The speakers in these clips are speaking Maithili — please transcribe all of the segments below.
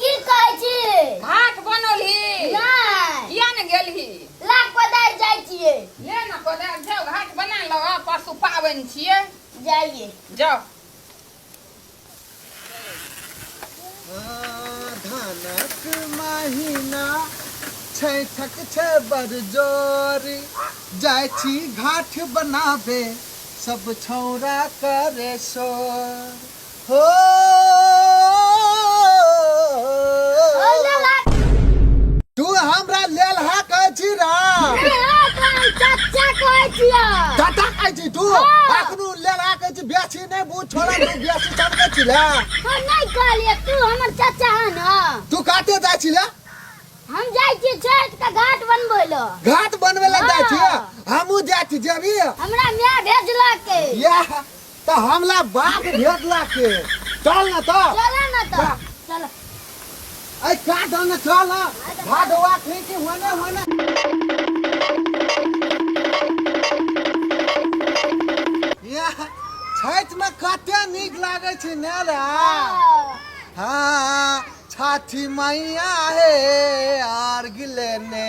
की कहै छी भात बनलही नहि किया ने गेलही ला कोदारि जाइ छियै ले ने कोदारि जाउ घाट बना लो आ परसू पाबनि छियै जाइए जाउ धनक महिना छैठक छै बरजोरी जाइ छी घाट बनाबे सब छौरा करे शोर तू हमरा लेलहा कहै छी ना चाचा कहै छियै चाचा कहै छी तू हाँ। अखनो लेलहा कहै छी बेसी नै बुझ छोड़ा तू बेसी समझै छी ले हम नै कहलिए तू हमर चाचा है ना तू काटे जाइ छी ले हम जाइ छी छठ के घाट बनबै ल घाट बनबै ल जाइ छी हाँ। हमहू जाइ छी जेबी हमरा माय भेजलक या त हमला बाप भेट ला के चल न त चल न त चल ऐ का दन चल भाडवा थे कि होने होने या छैत में कते नीक लागे छै ने रे हाँ छठी मैया हे आर गिले ने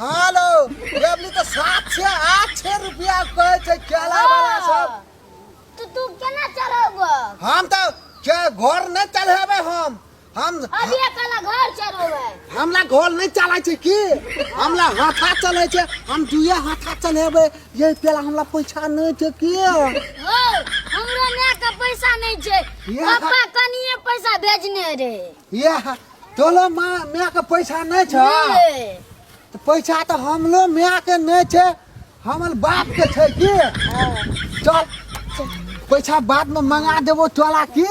हेलो एबली तो सात छे आठ छे रुपया कहे छे केला वाला सब तो तू केना चढ़ब हम तो के घर नहीं चढ़ेबे हम हम अभी अकेला घर चढ़ेबे हमला घर नहीं चला छे की हमला हाथा चले छे हम दुए हाथा चढ़ेबे ये पेला हमला पैसा नहीं छे की हो हमरा ने का पैसा नहीं छे ये पापा कनिए पैसा भेजने रे ये तोलो माँ माय के पैसा नहीं छ ए, तो पैसा तो हमलो माय के नहीं छे हमर बाप के छे की हाँ। चल पैसा बाद में मंगा देबो तोला की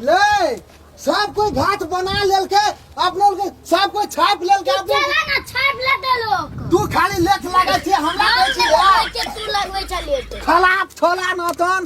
ले सब कोई घाट बना लेल के अपने लोग के सब कोई छाप लेल के अपने चला ना छाप लेते लोग तू खाली लेट लगा छे हमरा हम कहै छी लगबै यार छै, तू लगबै छै लेट खलाप छोला नतन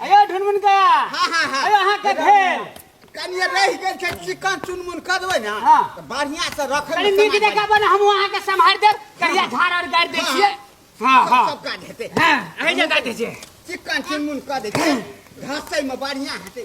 अयो ढुनमुन का हाँ हाँ हाँ अयो अहाँ के भेल कनिए रहि गेल छै चिकन चुनमुन कऽ देबै ने हाँ। तऽ बढ़िआँ से रखबै कनी नीक समाज जकाँ बने हम अहाँ के सम्हार देब करिया झाड़ आर गाड़ि दै छियै हाँ सब- हाँ सब काज हेतै हाँ अहीं जे गाड़ि दै छियै चिकन चुनमुन कऽ दै छै घसैमे बढ़िआँ हेतै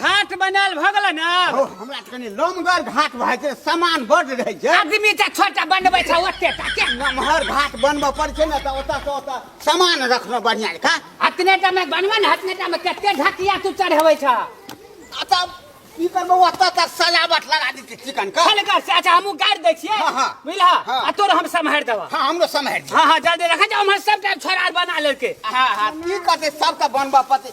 घाट बनाल भऽ गेल ने ओ हमरा तऽ कनि लमगर घाट भए छै सामान बड्ड रहै छै आदमी तऽ छोटा बनबै छै ओते टा के नमहर घाट बनबऽ पड़ै छै ने तऽ ओतऽ से ओतऽ सामान रखलहुँ बढ़िआँ जकाँ अतने टा मे बनबे ने अतने टा मे कते ढकिया तू चढ़बै छ आ तब की करबै ओतऽ तक सजावट लगा दै छै चिकन के खलगर से अच्छा हमहूँ गाड़ि दै छियै हाँ, हाँ। बुझलह हाँ। आ तोर हम सम्हारि देबह हँ हमरो समहरि दिअ हँ हँ जल्दी रखै जा उम्हर सब टाइम छोड़ा बना लेलकै हँ हँ की करतै सबके बनबऽ पड़तै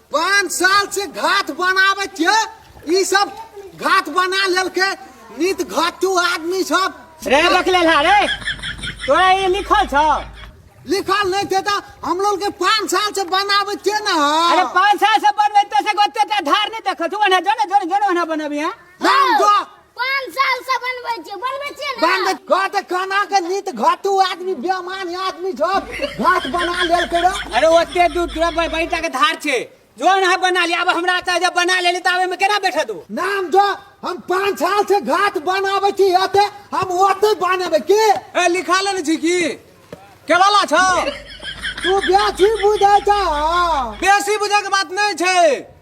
पाँच साल से घाट बनाबे छियै ई सब घाट बना लेलके नित घाटू आदमी सब रे बकले ला रे तोरा ये लिखल छ लिखल नहीं थे तो हम लोग के पाँच साल से बनाबे छियै ना अरे पाँच साल से बनबे तो से गोते धार नहीं देखल तू ओना जो ना जो ना जो ना ओना बनबी हां हम जो पाँच साल से बनबै छियै बनबै छियै ने बनबै घाट खाना के नीत घाटू आदमी बेमान आदमी छ घाट बना लेल के अरे ओते दूर दूर पर बैठा के धार छे जो ना बना लिया अब हमरा ता जब बना लेली तावे में केना बैठे तू नाम जो हम पाँच साल से घाट बनाबै छी अते हम ओते बनाबै के ए लिखा लेने छी की केवाला छौ तू बेसी बुझै छ बेसी बुझे के बात नहीं छे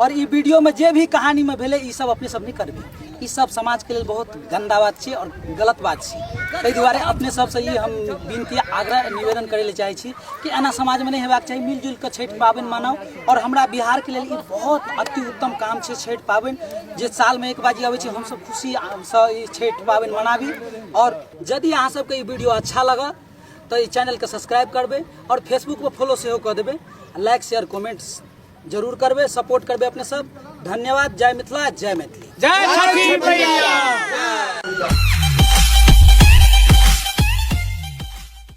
और ई वीडियो में जे भी कहानी में भेले ई सब अपने सब नहीं करबे ई सब समाज के लिए बहुत गंदा बात छे और गलत बात छे ताहि दुआरे अपने सब से ई हम विनती आग्रह निवेदन करे ले चाहे छी कि एना समाज में नहीं हेबाक चाही मिलजुल के छठि पाबनि मनाओ और हमरा बिहार के लिए ई बहुत अति उत्तम काम छे छठि पाबनि जे साल में एक बाजी आबै छै हम सब खुशी से ई छठि पाबनि मनाबी और यदि अहाँ सबके ई वीडियो अच्छा लगल तो ई चैनल के सब्सक्राइब करबे और फेसबुक पर फॉलो सेहो कऽ देबे लाइक शेयर कमेंट्स जरूर करबे सपोर्ट करबे अपने सब धन्यवाद जय मिथिला जय मैथिली जय छठी मैया